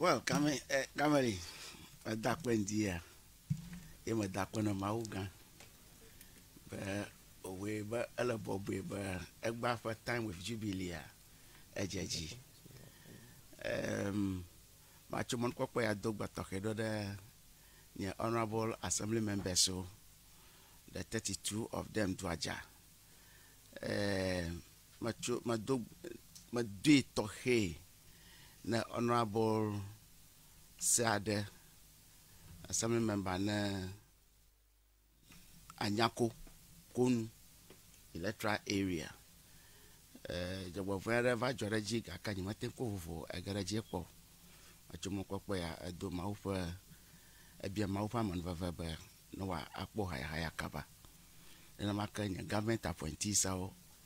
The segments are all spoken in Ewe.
Well, kame eh, kameli meda kpe ŋdi ya ye meda kpe na Mawu gã be òwɔe be ele bɔbɔe be egba ƒe time with jubilee ya edze dzi. Em, matso mɔnukpɔkpɔ ya do gbe tɔxɛ ɖo ɖe nye honourable assembly members wo the 32 of them duadza. Eh, metso medo medoe tɔxɛ ne honourable sea ɖe, assembly member ne Anyako Konu electoral area. Eh, dzɔgbevɔe aɖe va dzɔ ɖe edzi gake nye mete ko vovo ege ɖe edzi kpɔ. Metso mɔkpɔkpɔ ya edo Mawu ƒe ebia Mawu ƒe amenuveve be ne woakpɔ hayahaya kaba. Nenema ke nye government appointees awo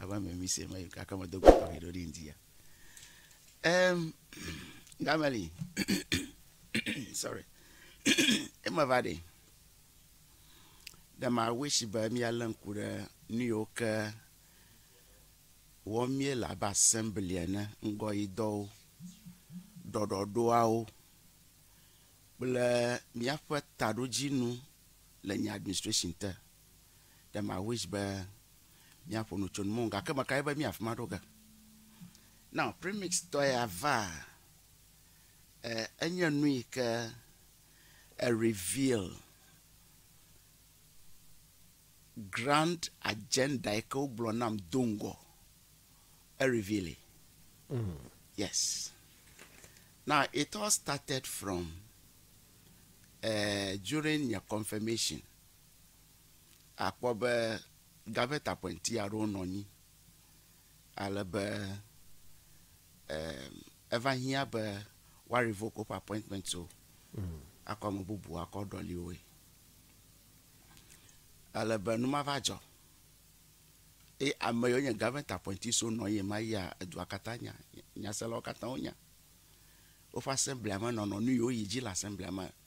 ava me mi se me kaka me do go tɔxɛ ɖo ɖi ŋdi ya em gameli sorry ema va ɖe ɖe ma wish be míalé ŋku ɖe nu yiwo ke wɔm míele abe assembly ene ŋgɔ yi dɔwo ɖɔɖɔɖoawo kple míaƒe taɖodzinu le nye administration te Dem I wish be míaƒo nu tso nu mɔnu gake meka ɖi be mí afi ma ɖo ge. Now premix tɔ ya va e, enye nu yi ke e reveal grand agenda yi ke wogblɔ nam do ŋgɔ e reveal mm. yes now it all started from uh, during your confirmation Akpɔ be gavetakpɛnti aɖewo nɔ anyi ale be eva hiã be woa revoke woƒe appointment wo akɔ ame bubu akɔ ɖɔli woe. Ale be nu ma va dzɔ eye ame yiwo nye gavetakpɛnti siwo nɔ anyi ɣe ma ɣia edua katã nya, nyaselawo katã wonya. Woƒe assemblia me nɔnɔ nu yiwo yi dzi le assemblia me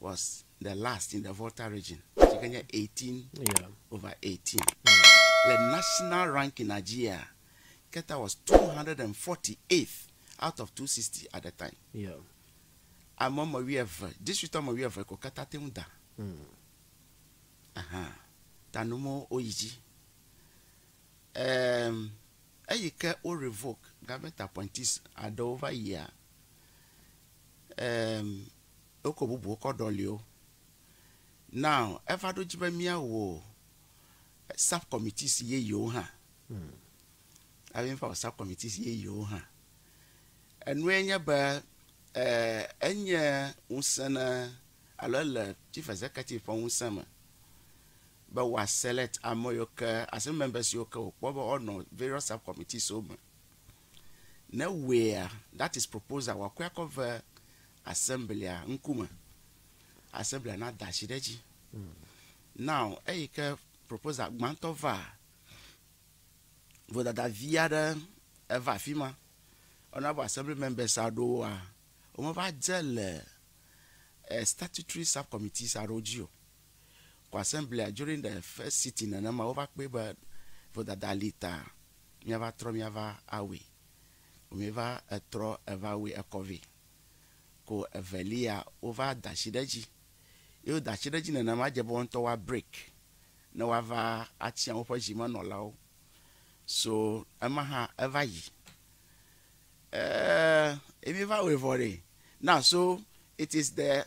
was the last in the Volta region, si ke nye 18 yeah. over 18. Mm. Le national ranking Nigeria, Keta was 248th out of 260 at the time. Yeah. Ame ɔmɔ wi eve, district ɔmɔ wi eve ko Keta te ŋu da. Mm. Aha. Tanumo oyi dzi. Um, eyi ke wo revoke government appointees aɖewo va yia Eem, wokɔ bubuwo kɔ ɖɔli wo. Now, eva ɖo dzi be míawɔ subcommittees yeyewo hã. Hmm. Ava va wɔ subcommittees yeyewo hã. Enue nye be eh, enye ŋusẽ ne alo ele chief executive ƒe ŋusẽ me be wòaselect ame yiwo ke, assembly members yiwo ke wòkpɔ be woanɔ various subcommittees wo me. Ne wea, that is proposal, wòakɔe akɔ ve assemblia ŋkume. Assemblia na da asi ɖe edzi. Now, eyi ke proposal gbãtɔ vaa, vodada vi aɖe eva afi ma. Honourable Assembly Members aɖewoa, womeva dze le statutory sub-committees aɖewo dzi o. Kwasɛnblia during the first sitting nenema wova kpɔe be vodada li ta míava trɔ míava awui. Womeva etrɔ eva wui ekɔ vɛ. Ko evelia wova da asi ɖe edzi. Ye woda asi ɖe edzi nenema dze be wo ŋutɔ woa break ne woava atia woƒe zimenɔlawo. So ema hã eva yi. Eeee ye míeva wɔe vɔ ɖe. Na so it is the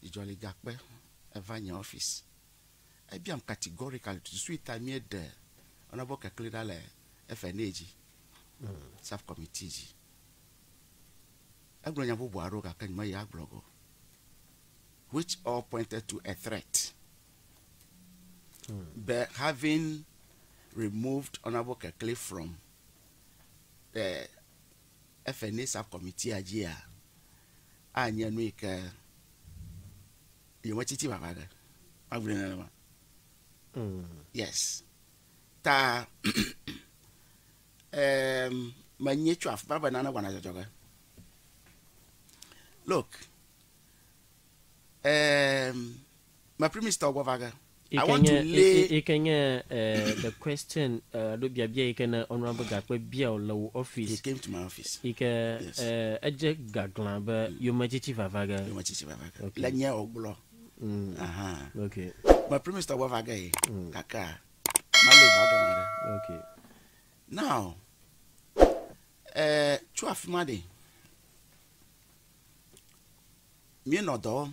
Dzidzɔ li gakpe eva nye ɔfisi. Ebiam categorically tututui ta míeɖe honorable Kekli ɖa le FNA dzi, sub committee dzi. Egblɔ nya bubu aɖewo gake nyemeyi agblɔ ge o which all pointed to a threat be having removed honorable Kekli from the Ephpheneser Kɔmitia dzia, anye nu yi ke yemetsi ti vava ɖe. Mabu nɛ nenema. Yes. Ta em, menye tso afi ma be nane wɔna dzɔdzɔge. Look, em, Yike nye, yike nye the question alo biabia yike ne ɔnua be gakpe bia wò le wò office. Yike edze gaglã be yometsitsi vava ge. Le nye o gblɔ. Okay. Me primistɔ gbɔ va ge ye gakea mali va gema ɖe. Okay. Now tso afima ɖe, mi nɔ dɔ wɔm.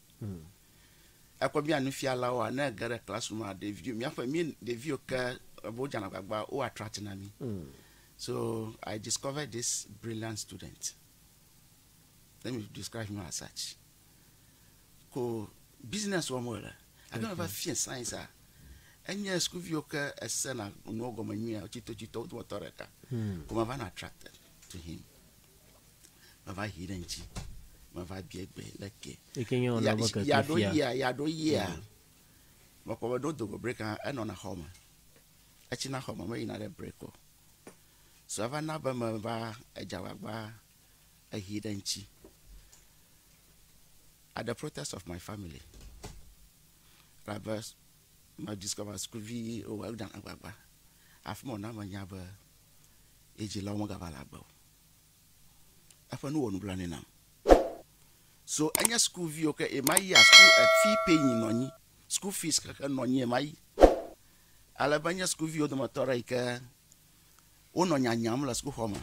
Ekɔ mía nufialawoa, ne ege ɖe class room a, ɖeviwo, míaƒe mí ɖeviwo ke ebe wodzana agbagba wo attract na mí. So I discovered this brilliant student. Let me describe him as such. Ko business wɔm wo le. Ake me va fiɛ science a, enye sukuviwo ke esena nuwo gɔme nyuie tsitotsito wo dometɔ ɖeka. Ko me va na attracted to him. mava hi ɖe ŋtsi mava bia gbe le ke yaɖo yia yaɖo yia mm. mekpɔ be ɖo dogo brek hã enɔna xɔ me etsi na xɔ me meyina ɖe brek o so ava na be meva edzagbagba ehi ɖe ŋtsi at the protest of my family rabe ma discover school vi owɔ ɖe agbagba afi me wòna menya be Ye dzilawo megava le agbe o. Eƒe nu wɔ nublanui nam. So enye sukuvi o ke ema yia suku e fee paying nɔ nyi. School fees xexe nɔ nyi ema yi. Ale be enye sukuviwo dometɔ ɖe yi ke wonɔ nya nyam le sukuxɔ me.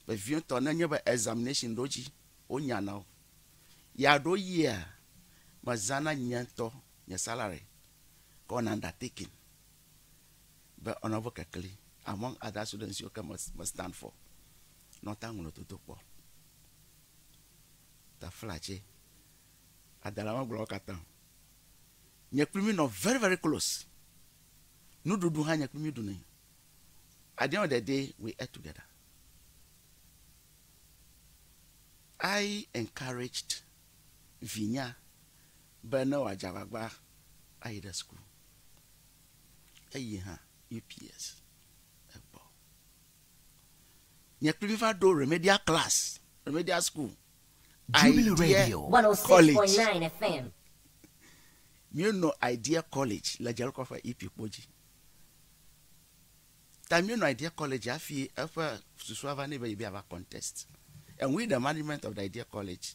Vevietɔ ne enye be examination ɖo dzi wo nya na wo. Ya ɖo yia me zãna nye ŋutɔ nye salary kɔ na undertaking. be ɔnɔ vo kekli among other students siwo ke me stand for nɔ ta ŋlɔ dodo kpɔ ta flatse adala me gblɔ katã nye kpli mi nɔ very very close nuɖuɖu hã nye kpli mi ɖu ne at the end of the day we ate together I encouraged vinya Be ne wòadze agbagba ayi ɖe suku, eyi hã UPS gbɔ. Nye kpli va ɖo Remedial Class, Remedial School, Idea College. Míenɔ Idea College le Dzerekɔ ƒe Ipi kpo dzi. Ta míenɔ Idea College hafi eƒe susua va nɛ be yebi ava contest and win the management of the Idea College.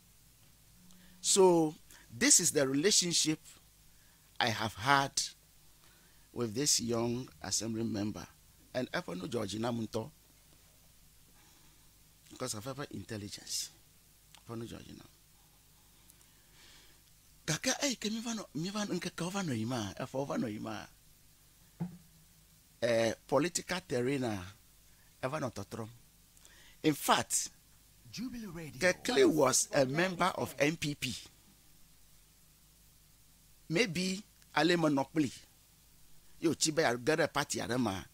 So this is the relationship I have had with this young assembly member and eƒe nu dzɔ dzi nam ŋutɔ because of eƒe intelligence eƒe nu dzɔ dzi nam gake eyi ke mi va nɔ mi va ŋkekewo va nɔ yi ma eƒewo va nɔ yi ma eh, political terrain eva nɔ tɔtrɔm in fact Kekle was a member of NPP maybe ale menɔ kpli ye wòtsi be yeage ɖe party aɖe mea,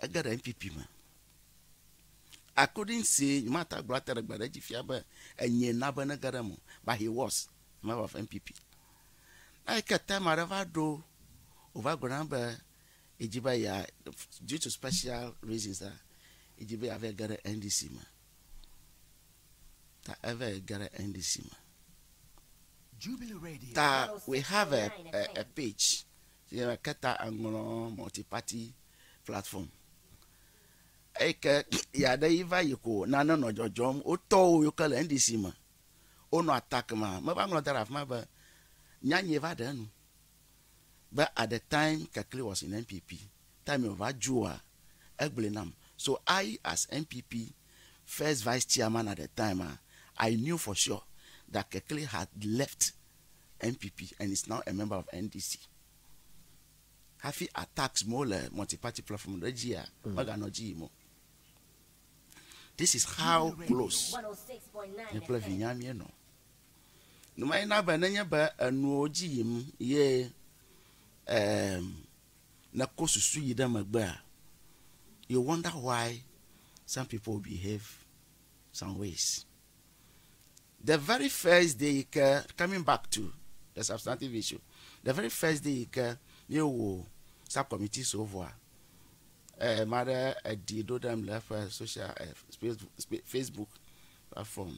ege ɖe NPP me. I couldn't say, nyemate agblɔ ate ɖe gbe ɖe edzi fia be enye na be nege ɖe eme o, but he was a member of NPP. Na yi ke time aɖe va ɖo, wòva gblɔ na be yedzi be ya, due to special reasons, yedzi be yeava ge ɖe NDC me. Ta eva yi ge ɖe NDC me. Ta we have a, a, a page si me ke ta eŋlɔ multiparty platform. Eyi ke ya ɖe yi va yi ko nane nɔ dzɔdzɔm. Wotɔwo yi ke le NDC me wonɔ attack ma meva ŋlɔ da ɖe afi ma be nyanye va ɖe enu. be at the time Kekli was in NPP, time yi wòva joa, egblɔe nam. So I as NPP first vice chairman at the time ah, I knew for sure that Kekli had left NPP and is now a member of NDC. Hafi attacks mawo le multiparty platform ɖe dzia, meganɔ edzi yim o. This is how close nye kple vinyea míenɔ. Nu mae na be nenye be enuwo dzi yim ye um nèko susu yi ɖe megbea, you wonder why some people behave some ways. The very first day yi ke, coming back to the substantive issue, the very first day yi ke míewɔ subcommittee so vɔa, eh, ame aɖe eɖi ɖo ɖem le eƒe social eh, Facebook platform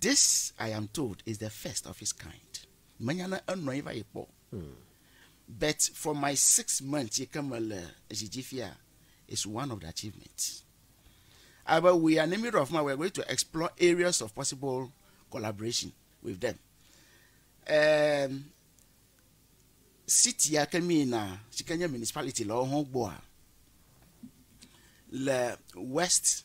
This I am told is the first of its kind. Menya ne enɔ anyi va yi kpɔ. Hmm. But for my six months yi ke mele zi dzi fia is one of the achievements. But we are in the middle of my we are going to explore areas of possible collaboration with them. Um, city ya ke mi na si ke nye municipality le wo hã gbɔa le west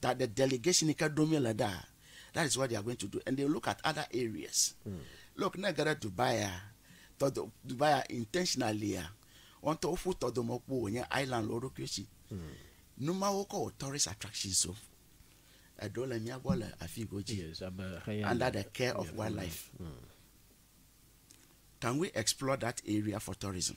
that the delegation ke ɖom yele ɖaa that is what they are going to do and they look at other areas mm. look ne ge ɖe dubai a tɔdo dubai a intentionally a wɔn tɔ woƒu tɔdomɔkpo wònye island le wo ɖokui si mm. numawo kɔ wɔ tourist attractions o eɖewo le mía gbɔ le afi godzi under the care of wildlife mm. can we explore that area for tourism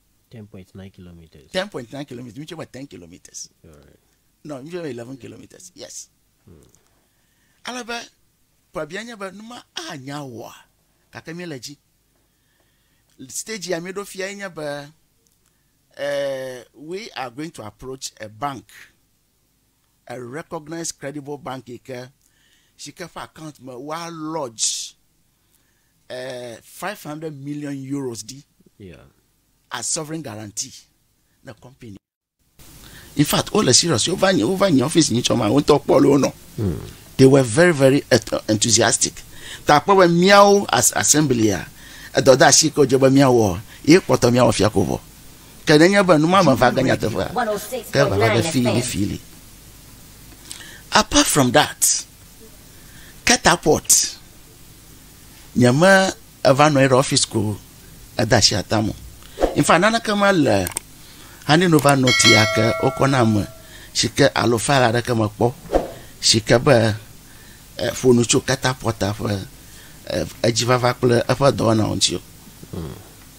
Ten point nine kilometers. Ten point nine kilometers. Which about ten kilometers. All right. No, which about eleven kilometers. Yes. Hmm. Ale be pabia nye be numa anya wɔa gake mi le dzi. Stage ya mi ɖo fia nye be uh, we are going to approach a bank. a recognized credible bank yi ke si ke ƒe account me woa lodge uh, 500 million euros di yeah. as sovereign guarantee na company in fact all the serious over nyi over nyi office nyi tsɔ ma wo ŋutɔ kpɔ le wo nɔ hmm. they were very very enthusiastic ta kpɔ be miawo as assembly a edɔdasi ke wodze be miawɔ ye kpɔtɔ miawɔ fia ko vɔ Ke nenye be nu ma meva ge nyateƒea, ke vava ge fii ne fii li. Apart from that, catapult nyeme eva nɔ anyi ɖe office ko eda asi atam o. In fact, naneke mele Honey Nova Note ya ke wokɔ na ame si ke alo file aɖeke mekpɔ si ke be eh, ƒo nu tso catapult ƒe eh, edzivava kple eƒe dɔwɔnawo ŋuti o.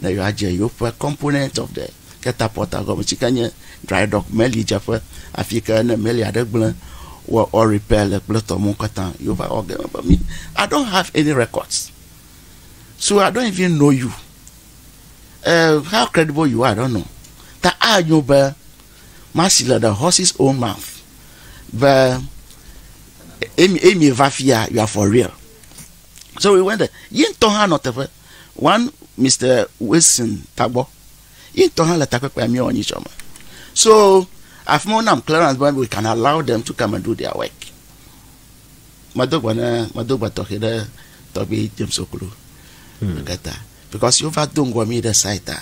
ne yewoadze yewoƒe Component of the Catapulta gɔme, si ke nye Dry Dock, meli dzeƒe, afi yi ke ne meli aɖe gblẽ wɔ ɔ repair le kple tɔmɔ̃ katã. Yehowa wɔ ge be mi, I don't have any records, so I don't even know you, eh, how credible you are, I don't know. Ta anyo be masi le the horse's own mouth be emi emi va fia, you are for real. So we went there. Yi ŋutɔ hã nɔ teƒe. one Mister Wilson Tagbɔ ye ŋutɔ hã le takpekpea míewɔ nyi tsɔ me. So afi ma wonam clearance be we can allow them to come and do their work. Medo gbe ne medo gbe tɔxɛ ɖe tɔgbi James Okulu hmm. kata because yova do ŋgɔ mi ɖe site a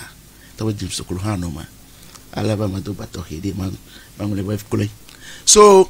tɔgbi James Okulu hã nɔ me. Ale be medo gbe tɔxɛ ɖi meŋlɔ be kloe. So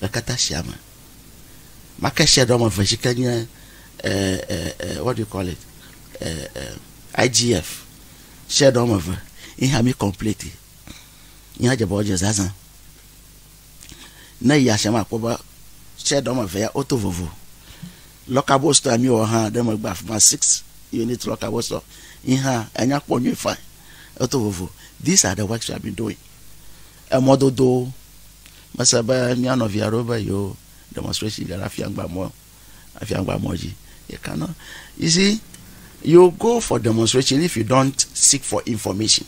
le kata sia me. Make sia ɖe woame eve dzi ke nye what do you call it IGF sia ɖe woame eve yi hã mi complete yi hã dze be wodze zazã. Ne yi asia me akpɔ be sia ɖe woame eve ya woto vovo. Lɔkabo store ya mi wɔ hã ɖe megbe afi ma six unit lɔkabo store yi hã enya kpɔ nyuie fine eto vovo. These are the works we have been doing Emɔdodo, Mese be mía nɔvi aɖewo be yewo demonstration le ɖe Afiangba mɔ, Afiangba mɔ dzi. You cannot, you see, you go for demonstration if you don't seek for information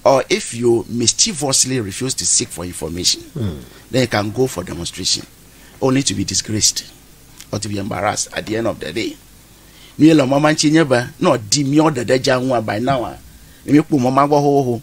or if you mischievously refuse to seek for information, mm. then you can go for demonstration only to be disgraced or to be embarrassed at the end of the day. Mi le mɔma ŋutsi nye be, nɔ di miɔ ɖeɖe dza ŋua by now, mi kpɔ mɔma gbɔ hoho.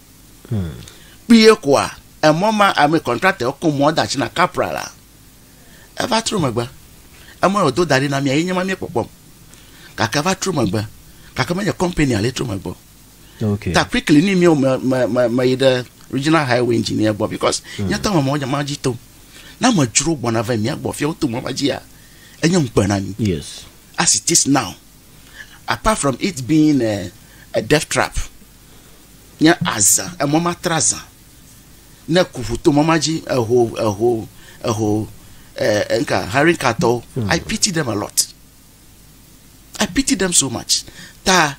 Kpuie koa, emɔ ma ame contractor wo ko mɔ da tsi na Capra la. Eva tro megbe. Emɔ ya wodo da ɖi na mía ye nye ma mía kpɔkpɔm. Gake eva tro megbe. Gake menye company ya le tro megbe o. Okay. Ta quickly ni mía me me me me yi ɖe regional highway engineer gbɔ because mm. nye tɔ me mɔ ma dzi tom. Na me dzro gbɔna ve mía gbɔ fia woto mɔ ma dzi ya. Enye ŋukpe na mi. Yes. As it is now. Apart from it being a, a death trap. Nye azã, emɔ matra zã. Ne ku ƒu to mɔ ma dzi, eho, eho, eho, eh, enka, Harinka tɔwo. Hmm. I pity them a lot. I pity them so much. Ta,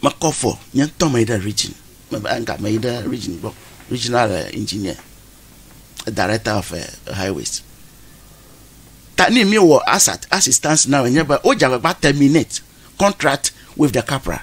mekɔ fɔ, nye ŋutɔ me yi ɖe region, enka, me yi ɖe region gbɔ, regional eh, engineer, director of eh, highways. Ta ni mi wɔ assistance now, nye be, o jagbagba terminate contract with the capra.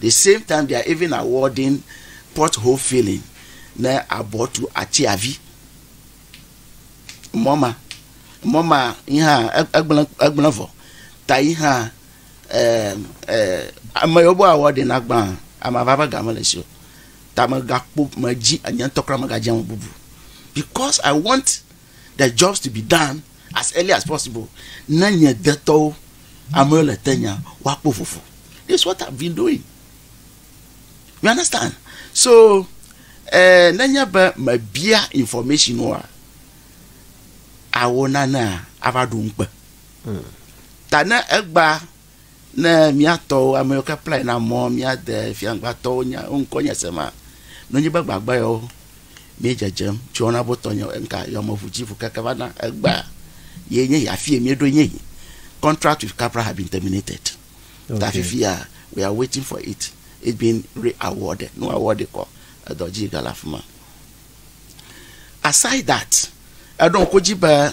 The same time they are even awarding pot hole filling ne abɔ tu atiavi mɔ ma mɔ ma yi hã egblẽ egblẽ vɔ ta yi hã ame yewo be awɔ ɖe na gbã ame ava ƒe ga mele si o ta megakpɔ medzi nye ŋutɔ kura megadze eme bubu because i want the jobs to be done as early as possible ne nye detɔwo amewo le tenya woakpɔ vovo this is what I've been doing you understand so eh, nenye be mebia information oa awo nanea ava ɖu ŋukpe ta ne egba Ne miatɔwo amewo ke kplae na mɔ miade fiaŋgbatɔwo nya wo ŋkɔ nye se ma, nonyi be gbagba yɔwo mi dzedzem tso wɔna bo tɔ nye enka yɔmɔʋu dzi ʋu keke va na egba ye nye ya fie mi ɖo nye yi contract with capra have been terminated okay. ta fifi ya we are waiting for it it been re awarded no awarded kɔ edɔ dzi gala fuma aside that eɖo ŋkɔ dzi be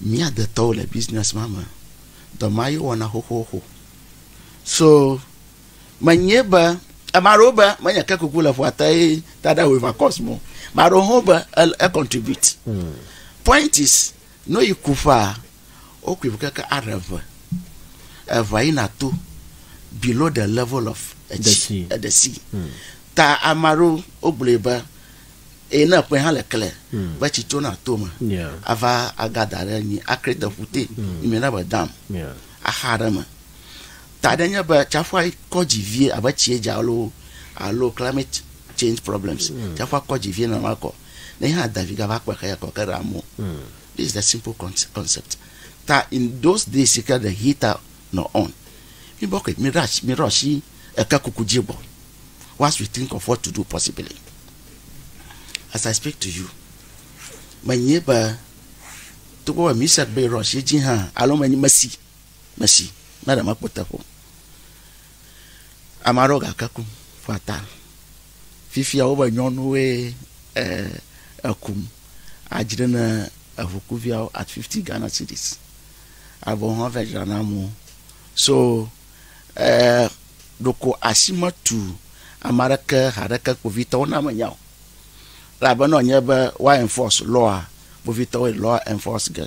Mía detɔwo le business ma me. Dɔ ma ye wɔna xoxoxo. So menyee be ame aɖewo be menye ke kuku le ƒua te ye tada wòva cause mo. Ame aɖewo hã be e contribute. Hmm. Point is no yi ku ƒea wokui ƒe keke aɖe eve. Evea yina to below the level of etsi eɖe si. Hmm. Ta ame aɖewo wogblɔe be Eye ne ƒe hã le kle be tsi tso na to me ava aga da ɖe nyi akre te ƒu te nyi me na be dam axa ɖe me ta ɖe nye be tsaƒua kɔ dzi vie abe tsie dza alo alo climate change problems tsaƒua kɔ dzi vie na ma kɔ ne hã da vi gava kpe xe ya kɔ ke ɖe amu this is the simple concept ta in those days ke the heater nɔ on mi bɔ ke mi rush mi rush Eke kuku dzi gbɔ. Once we think of what to do possibly. As I speak to you, menyi be togbɔ be Misek be rush edzi hã alo menyi mesi mesi ne ɖe mekpɔ teƒe o. Ame aɖewo gake kum ƒe ata. Fifia wobe nyɔnuwoe eh, ekum adzre ne eŋukuviawo at 50 Ghana cedis. Avɔ hã vedzra na amewo. So Ɛɛ, ɖeko asi metu ame aɖeke haɖeke kpovitɔwo na menya o. Elabena wònye be woa enforce law-a, kpovitɔwoe law-a enforce ge.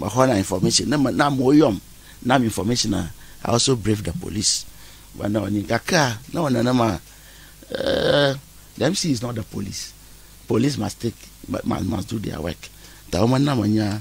Mexɔna information, ne me, ne amewo yɔm, nam information-a, I also brief the police be ne wòanyi. Gakea, ne wòle nenema, ɛɛ, the MC is not the police. Police must take, must, must do their work. Ta womena menya.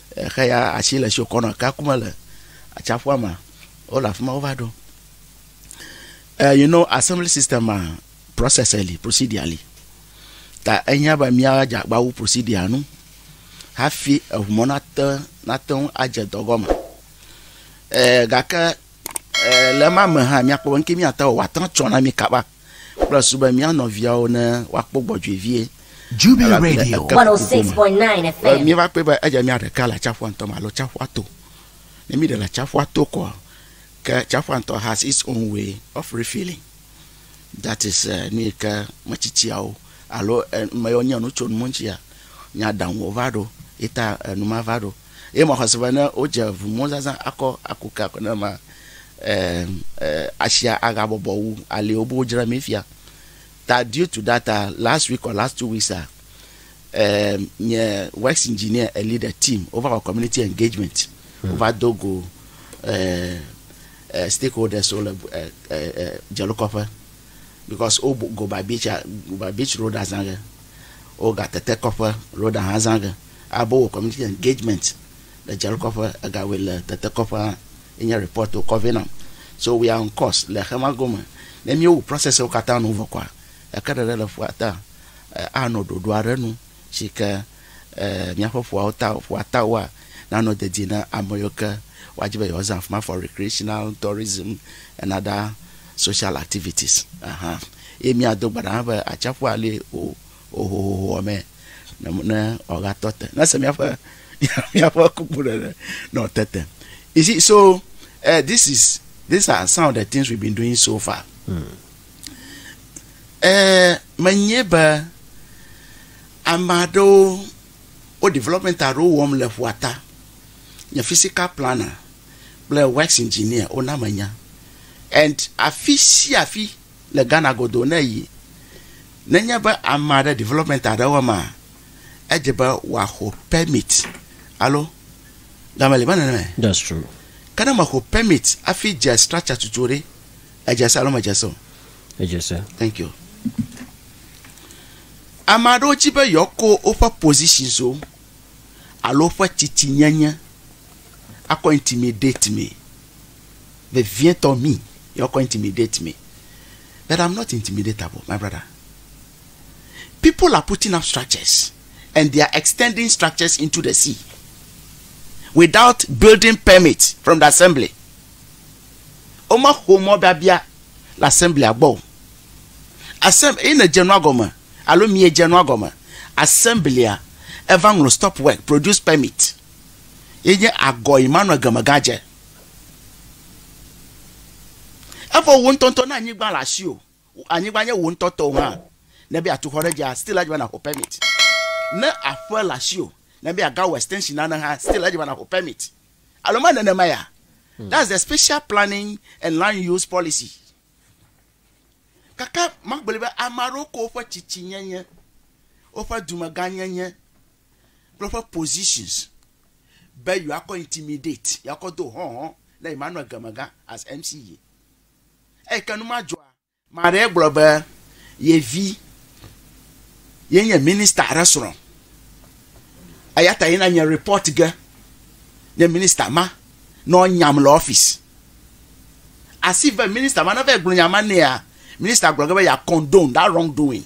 Exe ya atsi le tsi wòkɔ nɔ ekea ku me le atsaƒua mea, wole afi ma wova ɖo. Eh, you know, assembly system ma, process li, procedure li. Ta ehiã be míadze agba wu procedure nu hafi eŋu mɔ nate, nate ŋu adze dɔ gɔme. Eh, gake eh, le ema me hã, míakpɔ be nuke míate wɔ, wòate ŋu atsɔ na mí kaba. Kplɔe su be mía nɔviawo ne woakpɔ gbɔdzɔe vie. Jubilee Radio 106.9 FM. Míeva kpɔe be edze mía ɖeka le atsiaƒua ŋutɔ me alo tsiaƒua to. Ne míɖe le atsiaƒua to koa, ke tsiaƒua ŋutɔ has its own way of refilling. That is eh, nu yi ke metsitsiawo alo eh, ame yiwo nye nu tso nu ŋuti ya, nya ɖaŋuwo va ɖo, ye ta eh, nu ma va ɖo. Eye mɔxɔ si be ne wodze ʋu mɔ zazã akɔ aku ke akɔ ne ma ɛ ɛ asia aga bɔbɔ wu ali wo be wodzra mi fia. Ta due to that uh, last week or last two weeks uh, um, nye works engineer a leader team wova wɔ community engagement hmm. wova do go uh, uh, stakeholders wo le uh, uh, uh, dzelokɔƒe because wo go by beach uh, go by beach road azã ge wo ga tete kɔƒe road ahã zã ge. Abo wɔ community engagement le Dzare kɔƒe, ega wɔe le Tete kɔƒe hã ye nye report wokɔ vɛ nam. So we are on course le xema gome. Ne mí wo process wo katã nu vɔ kɔa, eke ɖeɖe le ƒua ta a nɔ ɖoɖo aɖe nu si ke míaƒe ƒuawo ta ƒua ta woa na nɔ dedie na ame yiwo ke woa dzi be yewoa zã afima for recreational tourism and other social activities. Ahan. Ye mía do gba ɖa hã be atsaƒua li o. hohohoa me ne ne wòagatɔ te. Nese míaƒe míaƒe kukuɖeɖe ne wòte te. You see, so uh, this is these are some of the things we've been doing so far. Eh, menye be ame aɖewo wo development aɖewo wɔm le ƒua ta. Nye physical planner kple works engineer wona menya. And afi sia afi Le Ghana godoo ne èyi, nenye be ame aɖe development aɖe wɔm maa, edze be wòaxɔ permit alo game li menɔ nɛ. That's true. Ke ne mèxɔ permit hafi dze structure tutu ɖe, edze se alo medze se o? Edze se. Thank you. Ame aɖewo di be yewoakɔ woƒe positionswo alo woƒe tsitsinyenye akɔ intimidate mee. vevietɔ me your kɔ intimidate me but am not intimidatable my brother people are putting up structures and they are extending structures into the sea without building permit from the assembly wome xɔ mɔ biabia le assembly agbɔ o asem yi ne dze nua gɔme alo mie dze nua gɔme assemblya eva ŋlɔ stop work produce permit yenye agɔ yi manɔ egeme gadze Evɔ wò ŋutɔŋutɔ na anyigba le asiwò. Anyigba nye wò ŋutɔ tɔwò hã. Ne be yeatu xɔ ɖe edzia, still edze be nàxɔ permit. Ne aƒe le asiwò, ne be yeagawɔ extension nane hã, still edze be nàxɔ permit. Alo mele nenema ya? Hmm. That's the special planning and land use policy. Kaka magblɔe be ame aɖewo ko woƒe tsitsinyenye, woƒe dumegãnyenye, kple woƒe positions be yewoakɔ intimidate, yewoakɔ do hɔ̃hɔ na Emmanuel Gemegã as MCA. Eyi ke nu ma dzɔa, ame aɖee gblɔ be ye vi ye nye minister aɖe srɔ̃. Eya ta yina nye report ge ne minister ma ne woanyam le office. As if be minister ma ne va yi gblɔ nya ma nɛa, minister gblɔ ge be ya condone that wrong doing.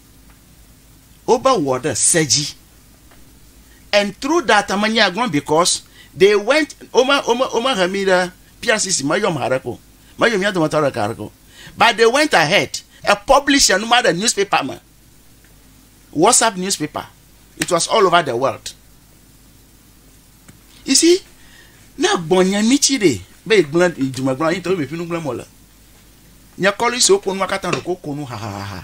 Wobe wɔ ɖe se dzi. And through that me nya gblɔm because they went wome wome wome he mi ɖe PRCC me yɔm haɖe ko. Me yɔ mia dometɔ aɖe ɖeka haɖe ko. But they went ahead e publish enu ma ɖe newspaper me. WhatsApp newspaper. It was all over the world. You see, ne gbɔ nye mi tsi ɖe be yi gblẽ yi dume gblẽ yi tɔ mi ƒinu gblẽ mo le. Nye kɔli siwo ko nua katã ɖo ko ko nu hahaha.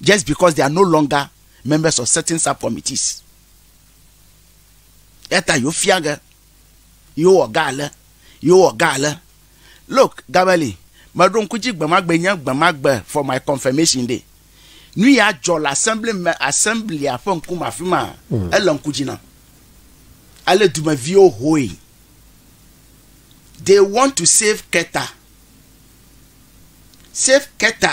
just because they are no longer members of certain subcommittees. Eta yofia ge, yowɔ ga ale, yowɔ ga ale. Look, Gabeli, meɖo ŋku dzi gbemagbe nye gbemagbe for my confirmation day. Nu ya dzɔ le assembly me assemblia ƒe ŋkume afi ma. Mm. Ele ŋku dzi nam. Ale dumeviwo hoe. They want to save Keta. Save Keta.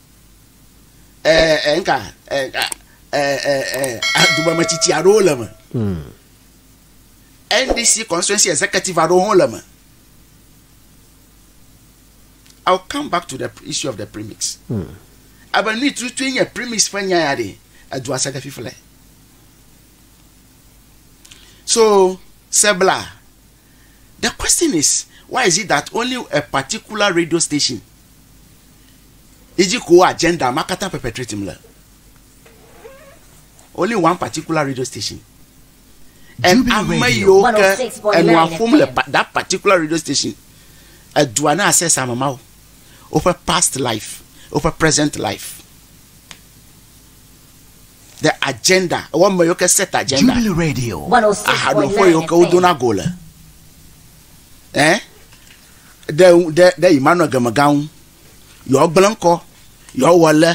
nka dumemetsitsi aɖewo le me hmm. ndc constituency executive aɖewo hã le me i will come back to the issue of the premix hmm. abe nui tutu nye premix ƒe nya ya ɖe edua se ɖe fifle so sebla The question is why is it that only a particular radio station yi dzi ko agenda ma katã perpetrating le? Only one particular radio station. And ame yiwo ke enua ƒom le that particular radio station edua na access ame mawo woƒe past life woƒe present life. the agenda ewɔ me yiwo ke set agenda ahaɖoƒe yiwo ke wodona go le ɛ ɖe ɖe ɖe Emmanuel Gemega ŋu yewoagblẽ ŋkɔ yewoawɔ lɛ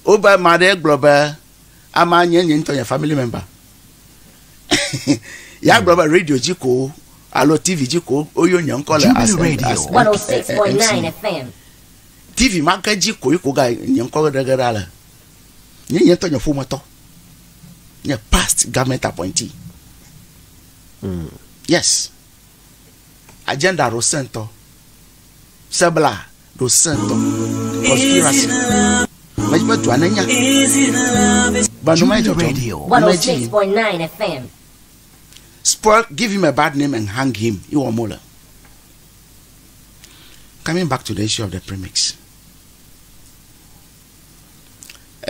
wobe ame aɖe gblɔ be ama nye nye ŋutɔ nye family member ya gblɔ be radio dzi ko alo tv dzi ko woyɔ nye ŋkɔ le as as eh, eh, eh, tv ma ke dzi ko yi ko ga nye ŋkɔ geɖe geɖe ale. Nye nye ŋutɔ nye ƒometɔ. Nye past government appointee. Mm. Yes. Agenda ɖo sentɔ. Sebla ɖo sentɔ. Conspiracy. Medi be dua nenya. Ba no mai dzɔdzɔ. Ba no edzi yim. Spoil, give him a bad name and hang him. Iwɔ mo le. Coming back to the issue of the premix.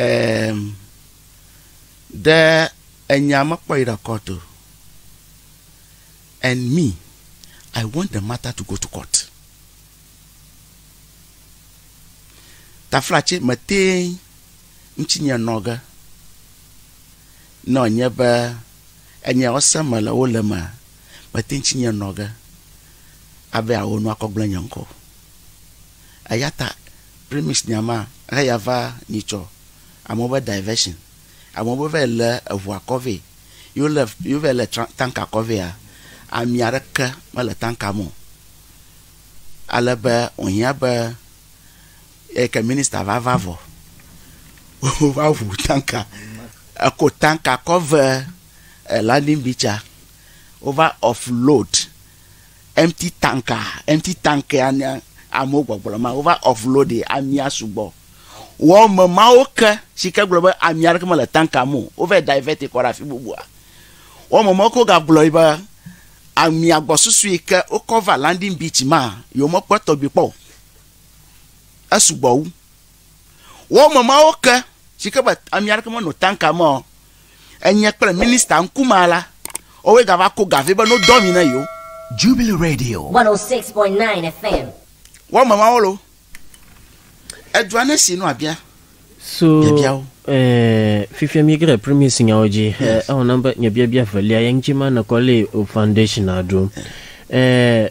Eeem ɖe enya mekpɔ yi ɖe court o and me I want the matter to go to court. Taflatse meteŋ ŋutsi nye nɔ ge ne wònye be enya wo se me le wo le mea meteŋ ŋutsi nye nɔ ge abe yeawo nu akɔ gblẽ nye ŋkɔ o. Eya ta premix nya ma he ya va nyitsɔ. Amewo be diversion. Amewo be vayi le eʋu akɔ vɛ. Yi wo le yi wo vayi le tra tank akɔ vɛa amia ɖeke me le tanka me o. Ale be wo hiã be eyi ke minister va va vɔ wo va ʋu tanka. Eko tanka kɔ ve landing beach a wo va off load. Empty tanka, Empty tankea nye amewo gbɔgblɔ ma wova offload amia sugbɔ wɔ me mawo ke si ke gblɔ be ami aɖeke mele tanka me o wova divert kɔ ɖe afi bubua. Wɔ me mawo ke wogagblɔ be amia gbɔsusu yi ke wokɔ va landing beach ma yewomekpɔ etɔgbi kpɔ o. Esugbɔ wu. Wɔme mawo ke si ke be ame aɖeke menɔ tanka me o, enye kple minista ŋkumea la, woawoe gava ko ga vɛ be no dɔ mi ne yewo. Jubilee Radio. 106.9 FM. Wɔme mawo lo. Edua ne si no abia. So eh, fifia mi gre premise nyawo dzi. Eh, yes. Ewɔ nam be nye biabia velia ye ŋuti ma nekɔ le foundation aɖo. Eh,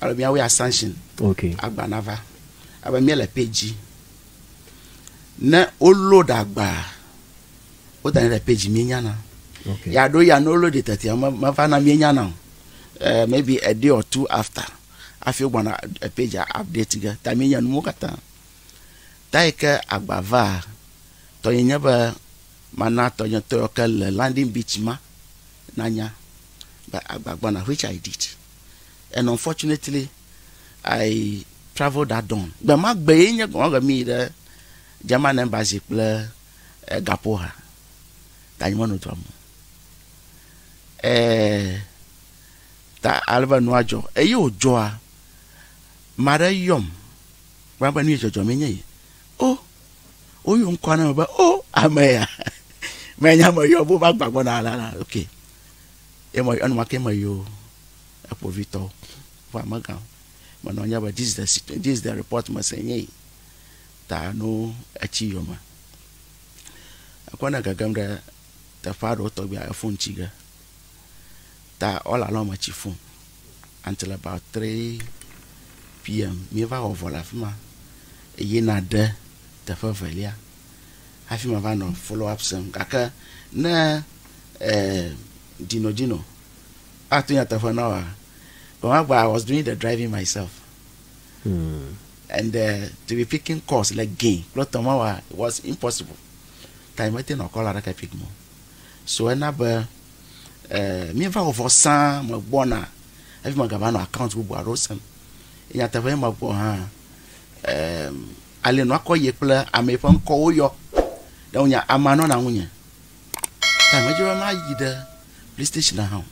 Alo míawɔe assumption. Ok. Agba nava. Abe míele page dzi. Ne wo load agba, wodanɛ ɖe page míenyana. Ok. Ya ɖo ya ne wo load tetea meva na míenyana o. Uh, maybe a day or two after afi wogbana page update ge ta míenya nuwo katã. Ta yi ke agba va tɔnye nye be mana tɔnye tɔ ke le landing beach ma nanya be agba gbɔna which I did. and unfortunately I traveled that dawn. Gbe ma gbe ye nye gɔme mi yi ɖe German embassy kple gaƒo ha ta nyi menɔ dua me o. Ɛɛ ta ale be nua dzɔ eye wòdzɔa ame aɖe yɔm kpɔna be nu yi dzɔdzɔm enye yi. O, woyɔ ŋkɔa na me be o ame ya. Menya ame yɔm wova gbɔ gbɔna alala. Okay. Ye me enumake me yo ekpovitɔ ƒe amegã me nɔ nya be this is the situation this is the report me se nye yi ta no etsi yome ekɔ ne gegem ɖe teƒe aɖewo tɔgbi a efun tsi ge ta all along me tsi fun until about 3 pm mi va wɔ vɔ le afima eye na ɖe teƒe velia hafi mava nɔ follow up sem gake ne eh, Gino Gino atu nyateƒe na wa gbemagba I was doing the driving myself hmm. and uh, to be picking calls le like, gain kple tɔma wa was impossible time mete nɔ call aɖeke pick mo so ena be eh, míeva wɔ vɔ sã megbɔna hafi megava nɔ account bubu aɖewo sem nyateƒe megbɔ hã um, ale nua kɔ ye kple ame ƒe ŋkɔwo yɔ. Ne wonya amea nɔna ŋunye. Ta medze be mayi ɖe police station hã o.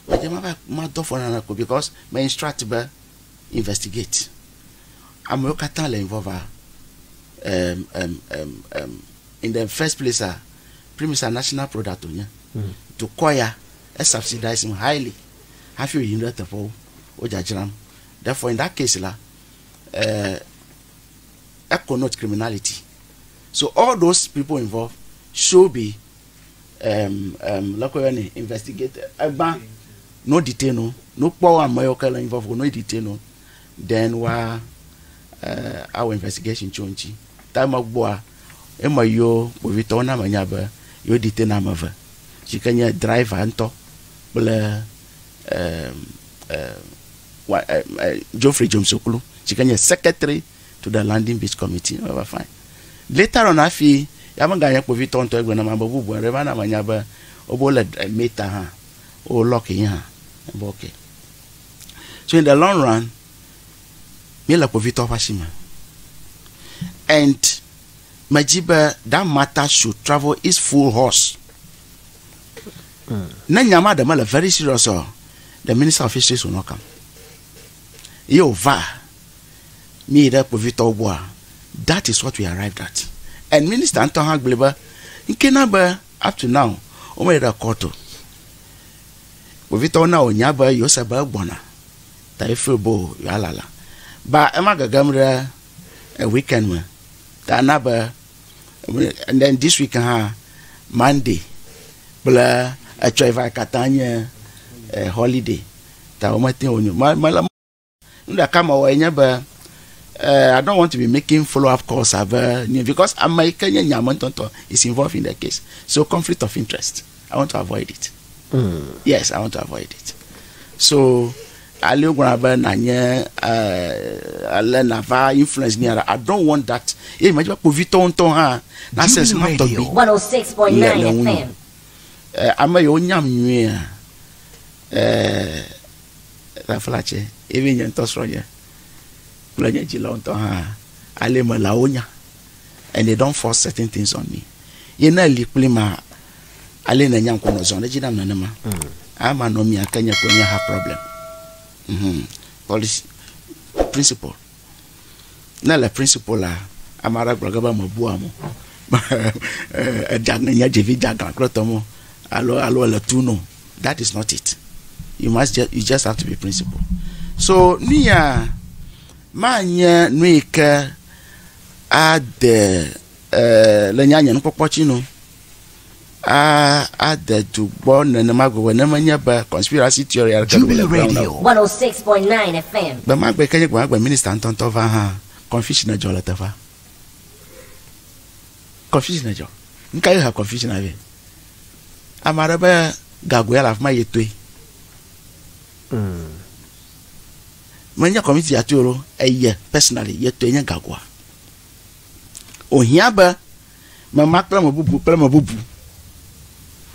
Medze be madɔ afɔ na naneke o because me instruct be investigate. Amewo katã le involve a um, um, um, um, in the first place a Primus a national product wonye. Hmm. Dukɔ ya e subsidize highly hafi woyim ɖe teƒewo wodzadzram. Therefore in that case la uh, that connotes criminality. So all those people involved should be um, um, lɔkɔyɔni investigated. Egba no detain no no kpɔ ame yɔ kele involved no detain no then wa uh, our investigation tso ŋuti. Ta eme gbɔa eme yiwo kpovitɔwo na me nya be yewo detain ame eve si ke nye driver ŋutɔ kple. Geoffrey Jones Oklo si ke nye secretary to the landing beach committee eva fine later on hafi ya meganye kpovitɔ ŋutɔ egblɔ na ma be bubu aɖe va na menya be wobe wole meta hã wo lock yi hã be okay so in the long run mi le kpovitɔ ƒe asi me and medzi be that matter should travel its full horse Ne nya ma ɖe mele very serious ɔ, the minister of fisheries will not come. Ye wòva, míyi ɖe kpovitɔwo gbɔa, that is what we arrived at. And minister ŋutɔ hã gblɔe be, ŋkee na be up to now, womeɖe ɖe court o. Kpovitɔwo na wònya be yewose be egbɔna, ta ye feel boo yewoalala. Ba ema gegem ɖe weekend me, ta na be, And then this week hã, Monday kple etsɔe va katã nye eh, holiday. Ta womete ŋu wonyo. Ma- ma- la- Nu ɖeka mewɔe nye be eh, I don't want to be making follow up calls ave new because ame yi ke nye nya me ŋutɔŋutɔ is involved in the case. So conflict of interest. I want to avoid it. Yes, I want to avoid it. So Ale wogblɔna be nànye ale nàva influence mía ɖa. I don't want that. Eye nyemedi be kpovitɔwo ŋutɔ hã nase esi ma tɔgbi le le ŋunye o. Ɛɛ, ame yiwo nyam nyuiea, ɛɛ, Raflace ye nye ŋutɔ srɔ̃nye kple nye dzilawo ŋutɔ hã. Ale me lawo nya. and they don't force certain things on me. Ye ne li kpli ma, ale ne nyam ko no zɔn edzi nam nenema. Mm. Ama no mi ake nye ko nye ha problem. Mm -hmm. Policy principle. Ne le principle la, ama ra gblɔ gaba me bua mo. Ejagne nya jevi jagan klo tomo. Alo alo le tu no. That is not it. You must just, you just have to be principle. So, nuya ma nye nuike a de e le nye anye nukpɔkpɔ tsi nu a a de du gbɔ nenema gɔme ne menye be conspiracy theory aɖe ke le gbe na o. 106.9 FM. Gbe ma gbe ke nye gbe ma gbe minister ŋutɔŋutɔ va hã confusion edzɔ le teƒea. Confusion edzɔ. Nuka ye ha confusion avɛ? Ame aɖe be gago ya le afi ma ye toe. Mm. menye kɔmiti ya tɔe o ɖo, eye personally ye tɔe nye gagoa. Wòhiã be mema kple ame bubu kple ame bubu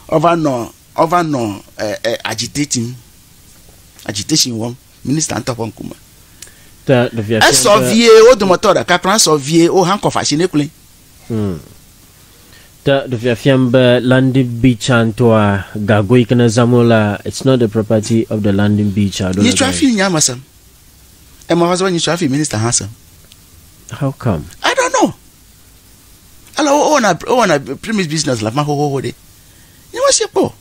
wova nɔ wova nɔ e, e, agitating, agitation wɔm minista ŋutɔ ƒe ŋkume. Te ɖevia fia Esɔ be vie wo dometɔ ɖeka kura esɔ vie wo hankɔf asi nɛ kloe. Hm. Te ɖe fiafiam be landing beach tsãtɔa, gago yi ke nèzã mɔ la, it's not the property of the landing beach alo le Nyitsɔ hafi gai. nya mesem. Ema va se be nyitsɔ hafi minister hã sem. How come? I don't know. Ale wo wɔna wo wɔna premise business le afima xoxoxo ɖe. Nye me si kpɔ o.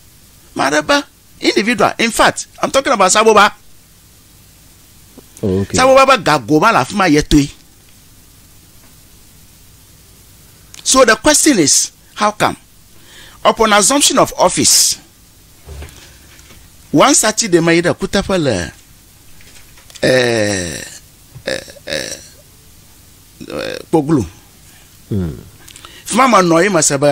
Maɖe be individual in fact I'm talking about Saboba. Okay. Sabo baba gago ma le afi ma yetoe. So the question is how come upon assumption of office one Saturday ma yi ɖe kuteƒe le eh, eh, eh, eh, kpoglu. Mm. Fi ma menɔ ye mese be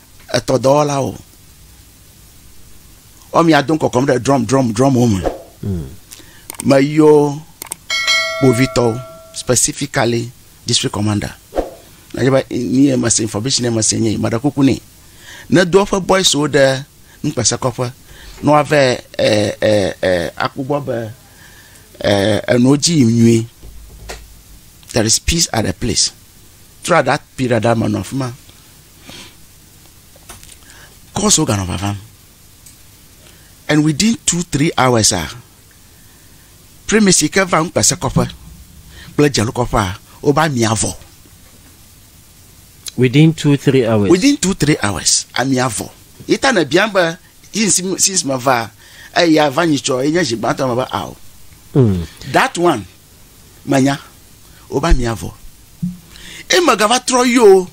etɔdɔwɔlawo wɔmi ado kɔkɔm ɖe drum drum drum wo me hmm. me yɔ kpovitɔwo specifically district commander na yɛ ni yɛ mese information yɛ mese nye maɖe kuku ne ne do eƒe boys wo ɖe nukpese kɔƒe ne woave ɛ eh, ɛ eh, ɛ eh, akpɔgbɔ be ɛ enuwo dzi yim nyuie there is peace at the place throughout that period that man of man. Kɔs woganɔ vavam. And within two three hours a, primis yi ke va ŋukpesekɔƒe kple dzelokɔƒea wobe ami avɔ. Within two three hours. Within two three hours ami avɔ. Yi ta ne biam be yi since me va eya va nyi tsɔ yi nye zi gbãtɔ me be ao. Mm. That one. Menya. Wobe amia vɔ. Eye megava trɔ yio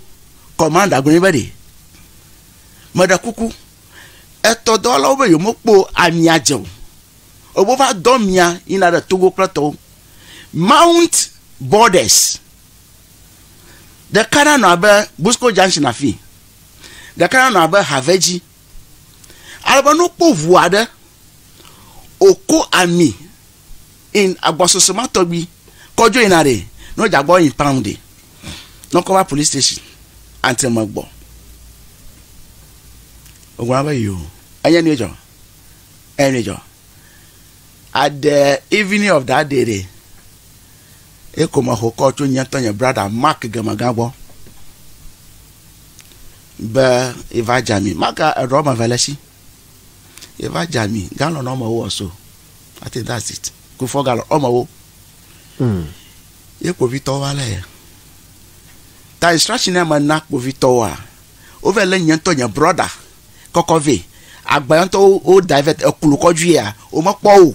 kɔmanda gblɔ nɛ be ɖe, meɖe kuku, etɔ dɔwɔlawo be yewomekpɔ amia dze o. Ebe wova dɔ amia yina ɖe Togo kple etɔwo. Mount Borders. Ɖeka nanɔ abe Busco Junction afii. Ɖeka nanɔ abe Havedzi. Ale be ne wokpɔ ŋu aɖe wòko ami in agbɔsɔsɔ ma tɔgbi kɔ dzo yina ɖe ne wodze agbɔ yi pam ɖe ne wokɔ va polisi station ante me gbɔ. Wogblɔna be yo enye nui dzɔ enye nui dzɔ. At the evening of that day ɖe eko mexɔ kɔl tso nye ŋutɔ nye brada Mark Gemegã gbɔ. Be yeva dza mi. Maka eɖɔ wɔme eve le esi. Yeva dza mi galɔn wɔme wo ɔso. I think that's it. Kufɔ galɔn wɔme wo. Mm. Ye kpovitɔwo va lé ye. Ta instruction ya me na kpovitɔwoa, wova lé nye ŋutɔ nye brɔda kɔkɔ vɛ. Agba ŋutɔ wo da vɛ eklu kɔdzi ya womekpɔ o.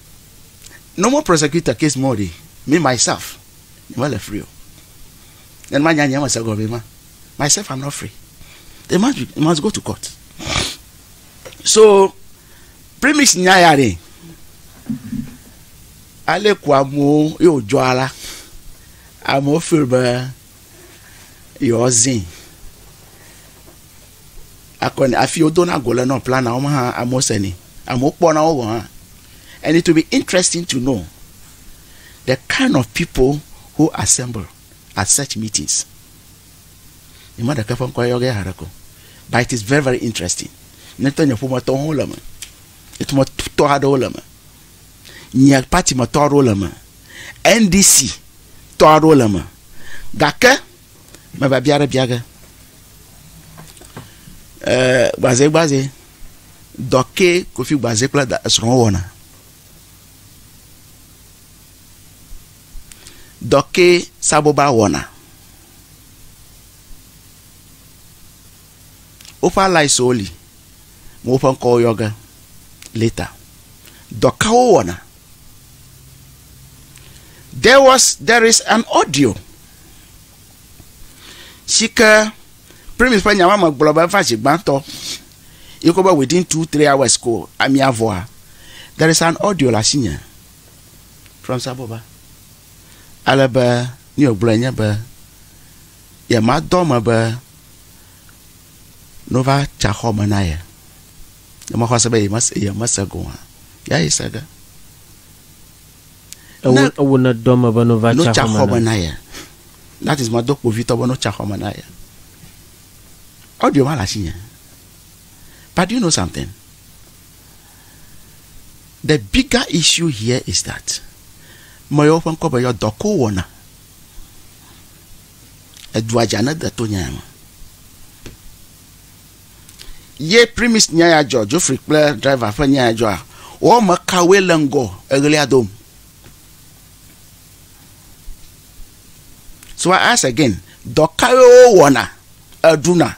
normal prosecutor case more ɖi me myself nye mele free o ne manya nye mese gɔme ma myself i'm not free they must, be, they must go to court so premise nya ya ɖi ale ku amewo ye wòdzɔ ala amewo feel be yewoazin akɔe nɛ hafi wodona go le nɔ plana wo me hã amewo senɛ amewo kpɔna wo gɔ̃ hã and it will be interesting to know the kind of people who assemble at such meetings nyema ɖeke ƒe ŋkɔ yɔ ge haɖe ko but it is very very interesting ne tɔ nye ƒometɔwo hã wole me etumetɔ aɖewo le me nye pati metɔ aɖewo le me ndc tɔ aɖewo le me gake Meva bia ɖe bia ge. Eee gbazɛgbazɛ, dɔ ke Kofi Gbazɛ kple da esrɔ̃wo wɔna? Dɔ ke Saboba wɔna? Woƒe allieswo li, me woƒe ŋkɔwo yɔ ge later. Dɔ ka wowɔna? There was, there is an audio. si ke Premise ƒe nyawo me gblɔ be eva zi gbãtɔ yi ke be within two three hours ko amia vɔa, there is an audio le asinye from Saboba ale be nu yi wògblɔe nye be yemadɔ eme be ne wova tsi axɔ me na ye ne mexɔ se be yemese go hã, yeah he said that. Ne ewo ne dɔ me be no va tsa xɔ me na ye. That is ma do kpovitɔ be no tsa xɔ me na ye. Audio ma le asi nye. But do you know something? The bigger issue here is that me yewo ƒe ŋkɔ be yɔ dɔ ko wɔna. Edua dza ne de to nya ya me. Ye primis nya ya dzɔ, Jofri kple driver ƒe nya ya dzɔa, woame kawoe le ŋgɔ eɣlia dom? So I ask again, dɔ kawoe wowɔna eɖuna?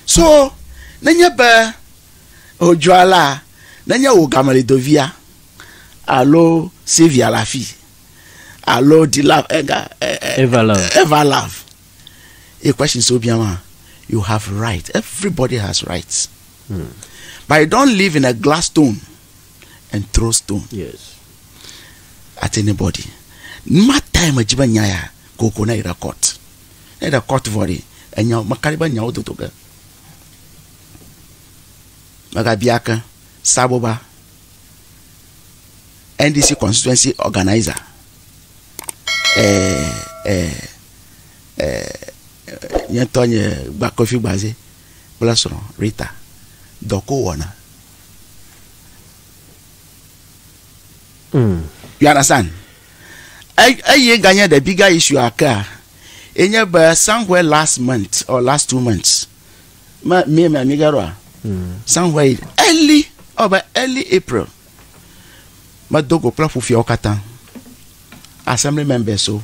So nenye be wodzɔa la, nenye wò gamelidoviya alo Sylvia le afii alo Dilove, ega, Evalove. Evalove. equations wo bia ma you have right everybody has rights hmm. but you don't live in a glass stone and throw stone yes. at anybody ma time dzi be nya ya koko na yi ɖe court ne ɖe court vɔ ɖi enya mekari be nyawo dodo ge megabia ke saboba ndc constituency organizer eh, eh, nye ŋutɔ nye Kofi Gbaze kple srɔ̃ Rita dɔ ko wɔna. Mm. You understand? Eye ganye the bigger issue akea, enye be somewhere last month or last two months, me me me mi gaɖoa, mm. somewhere early, ɔbe oh, early April, medo go kple ƒufiawo katã, assembly members o. So,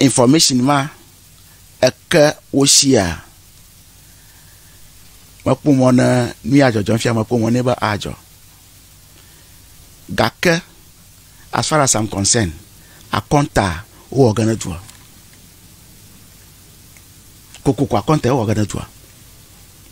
Information ma eke wo shia? Mekpɔ mɔ ne nu ya dzɔdzɔ fia mekpɔ mɔ ne be adzɔ. Gake as far as I'm concerned, akɔnta wowɔ ge ne dua. Kokoko akɔnta wowɔ ge ne dua.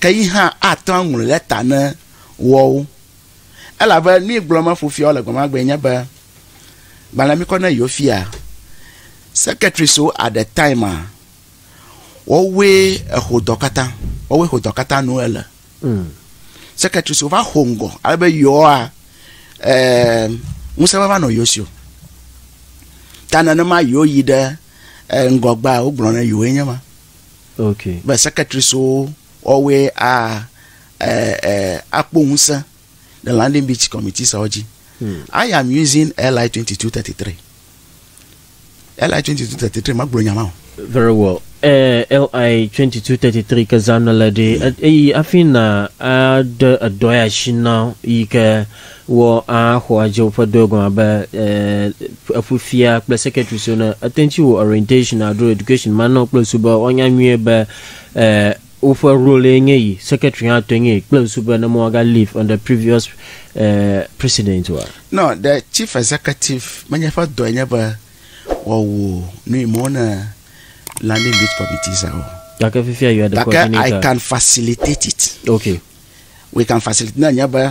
ke yi hã ate ŋu aŋlɔe ɖe ta ne woawo. Elabe nu yi gblɔm eƒo fiawo le gbe ma gbee nye be, gbalẽ mikɔ ne yewo fia, sekɛtrisiwo aɖe taima, woawoe exo dɔ katã, woawoe xo dɔ katã nu ele. Sekɛtrisiwo va xo ŋgɔ ale be yewoa ɛɛ ŋusẽ va va nɔ yewo si o. Ta nenema yewo yi ɖe ŋgɔgbea wogblɔ ne yewoe nye ma. be secretaries wo woawoe a e e akpɔ ŋusẽ le landing beach committees awo dzi. Hmm. I am using LI twenty two thirty three. LI twenty two thirty three magblɔ nya ma o. Very well. Eh, LI 2233 ke zãna le ɖe eyi afi na aɖe edɔ ya shi na yi ke Wɔ aa xɔ adze woƒe dɔe gɔme abe eh, eƒu fia kple secretary so ne ete ŋuti wo orientation adro education ma nɔ kple ŋsu be woanya nyuie be eh, woƒe role ye nye yi secretary hã tɔe nye yi kple ŋsu be ne mo aga leave on the previous eh, precedent wa. No, the chief executive menye ƒe dɔe nye be wɔ wo nu yi mo ne landing beach committee sa o. Gake fifia you are the Gake I coordinator. can facilitate it. Okay. We can facilitate ne nye be.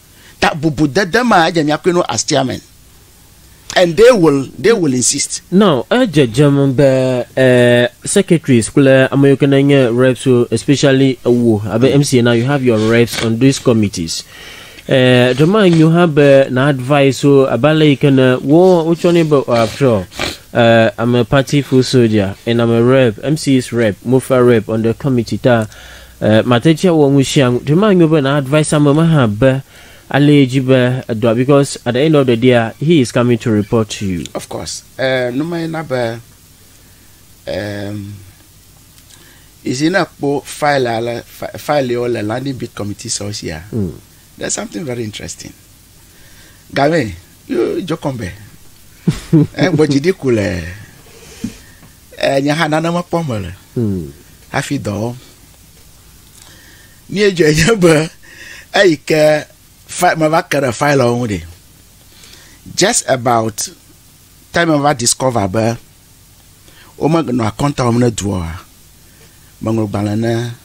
Ta bubu dede ma edze mia kui no as chairman and they will they will insist. Now edze dzem be uh, secretaries kple ame yiwo ke nenye reps wo especially wo abe MC hmm. na you have your reps on these committees. Eh, ɖe ma nyo hã be na advice wo abe ale yi ke ne wo wotsɔ ne be after all uh, I'm a party full soldier and I'm a rep, MC's rep, MOFA rep on the committee ta. E, mate ŋu awɔ nu sia nu. Ɖe manyo be na advice ame ma hã be ale ye dzi be edɔa because at the end of the day he is coming to report to you. Of course, e, nu ma ye na be e, you see ne ekpɔ file ale file yewo le landing bid committee sɔsia, mm. there's something very interesting. game yo jɔkɔmbe egbɔ dzi ɖi ku le enye hã nane mekpɔ me le hmm. hafi dɔ wɔm mi edzɔ enye be eyi ke fa meva ke ɖe fail ɔwo ŋu just about time meva discover be womenɔ akɔnta wɔm ne duɔ meŋlɔ gbalẽ ne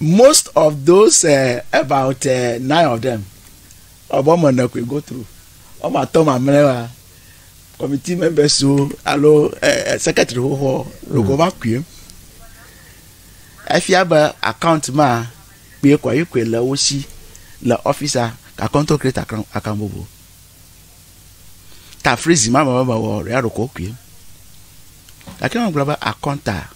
Most of those uh, about uh, nine of them, ọbọ me ne koe go through. Ọmọ atɔ mamlɛ wa committee members wo alo uh, secretary xoxo logo va koe. Efia be account ma kpee kɔ yi koe le wo si le officer kakɔntɔ create account account bobo. Ta freeze ma me me wɔ ria ɖoko koe. Gake ma gblɔ be akɔnta.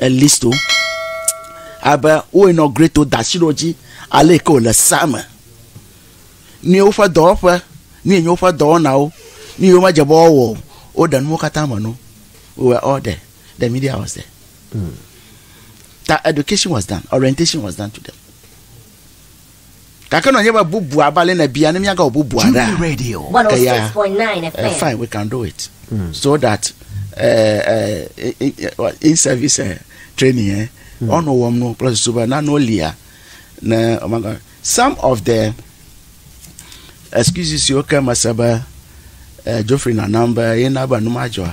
elisto abe wo inaugurate da asi ɖe wo dzi ale yi ke wòle sea me. Nu ye woƒe dɔwɔƒe, nu ye nye woƒe dɔwɔnawo, nu ye womedze be woawɔ o, woɖe nuwo katã me no. We were all there. The media was there. Mm. The education was done. Orientation was done to them. Gake nɔ nye be bubua abe ale nebia ne miagawɔ bubua ɖa. Jubilee Radio. Eya, 106.9 eh, FM. fine, we can do it. So that eh, eh, in- in- in service eh, training eh, ɔnɔ wɔm no kple susu be nanewo lia ne ɔmaga. Some of the excuses siwo ke mese be eh, Geoffrey nanam be yena be nu madzɔa.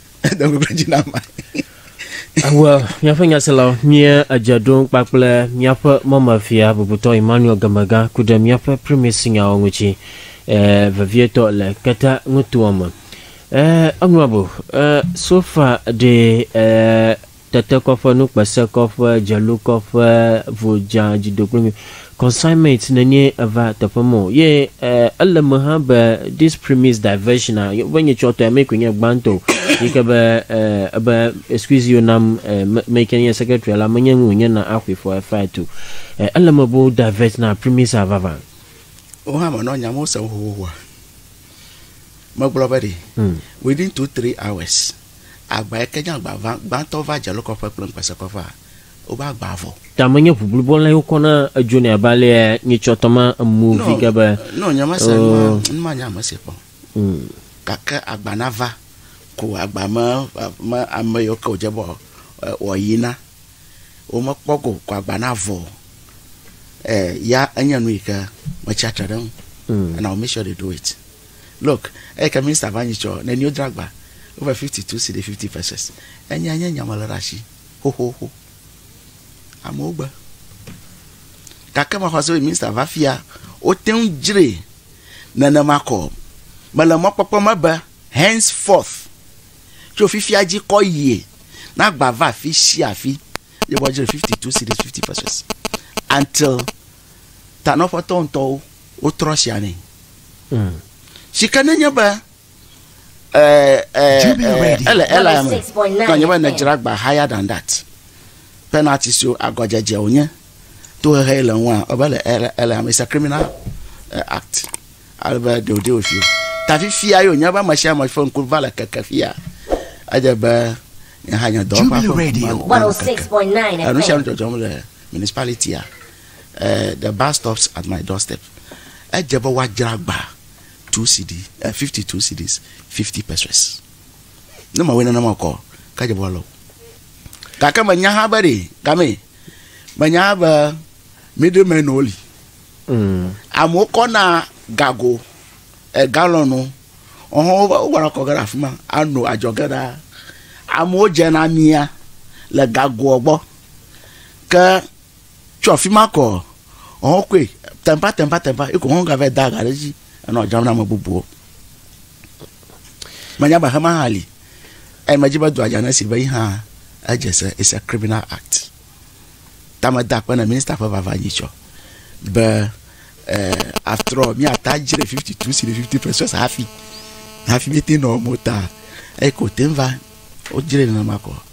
Edo ŋkuklẽ dzi na ame. Awɔ míaƒe nyaselawo mie edze ɖom kpakple míaƒe mɔmefia bubutɔ Emmanuel Gemegã ku ɖe míaƒe Primacy-nyawo ŋuti eh, vevietɔ le Keta nutoa me. Eh, eŋlɔbo, eh, so far ɖee eh, tetekɔƒe, nukpesekɔƒe, dzelokɔƒe, vodza, dzidogbemi, consignment nenie eva teƒe me o. Ye e, ele me hã be this premise diversion a, be nye tsɔ tɔe me koe nye gbãtɔ o. Yi ke be e, ebe excuse you nam e, me, me yi ke nye secretary la, menye nu wònye na axɔe for a fight o. E, ele me be wo divert na premise a vavã. Wo hã menɔ nya mewo sem xoxoxoa. Megblɔ be ɖi, within two, three hours, Agba yike nye agba gbãtɔ va Dzelokɔƒe kple Ŋukpesekɔƒea, wobe agba vɔ. Ta menye ʋuʋlu bɔ lɛ wokɔ na edzo nɛ abe alea nye tsɔ tɔ ma emu vi ge be. Nɔ nye ma se nua, nu ma nye ame si kpɔ. Gake agba na va, ko agba me me ame yio ke wodze be wɔ yi na wo me kpɔ go ko agba na vɔ. Eh ya enye nu yike me tsia tre ɖe ŋu. And I will make sure they do it. Look, eyike Minister va nyi tsɔ nenio dragba over 52 cedi 50 pesees. Enyea nye nya mele ɖe asi xoxoxo. Amewo gbe. Gake mexɔ se be Minister va fia wote ŋu dzre nenema kɔ. Mele mɔkpɔkpɔ me be henceforth tso fifia dzi kɔ yie na gba va afi sia afi ye woadzre 52 cedis 50 pesees until tanɔƒetɔ ŋutɔwo wotrɔ sia nɛ. Si ke nenye be ɛ, ɛ, ɛ, ele Elia me, ke nye be nedzra agba higher than that. Penalty siwo agɔdzedze wònye, tohehe yi le ŋua, ebe le Elia, Elia me, it's a criminal eh, act. Ale be they will deal with you. Ta fifia ye wònye be ame sia ame ƒe ŋku va le keke fia. Edze be nye hã nye dɔwɔƒea ƒe Jubilee ŋku ma Radio. ŋku va le keke. 106.9 Enu sia FM. nu dzɔdzɔm le municipality-a. The bus stops at my doorstep Edze be woadzra agba two cedi, eh, fifty two cedis, fifty pesewas. Ne mewɔe nenema o kɔ, ke edze be woalɔ o. Gake menya hã be ɖe gamee. Menya hã be middlemenwo li. Amewo kɔna gago, eh, galɔnwo, ɔhɔ̃, wova, wovana kɔ ge ɖe afi ma ano adzɔge ɖaa. Amewo dzena amia le gagoa gbɔ. Ke. Tso afi ma kɔ, ɔhɔn koe tɛnpa tɛnpa tɛnpa eko hɔn gava yi da ga ɖe edzi enɔ dzram na ame bubuwo. Menya be hema hã li. Eye medzi be dɔa dza ne esi be yi hã edze se is a criminal act. Ta meda akpe ne minista ƒe vava nyi tsɔ be eh, after all míata dzre 52 si ɖe 50 pesos hafi hafi míete nɔ mota eye ko te va wodzre nenema kɔ.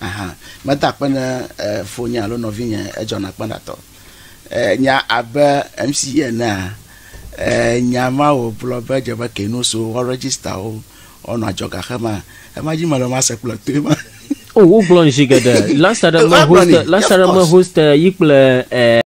Aha, meda akpe ne e, fonye alo nɔvinye edzɔna kpaɖatɔ. E, nya abe MC enea, e, nya ma wògblɔ be dze be kenu so woarejista wo, woanɔ adzɔga xe ma. Ema dzi mele ma se kple toe ma. O, wogblɔn zi geɖe. Last aɖe me Woagblɔnɛ. host, last Yes, of aɖe me course. host yi kple e,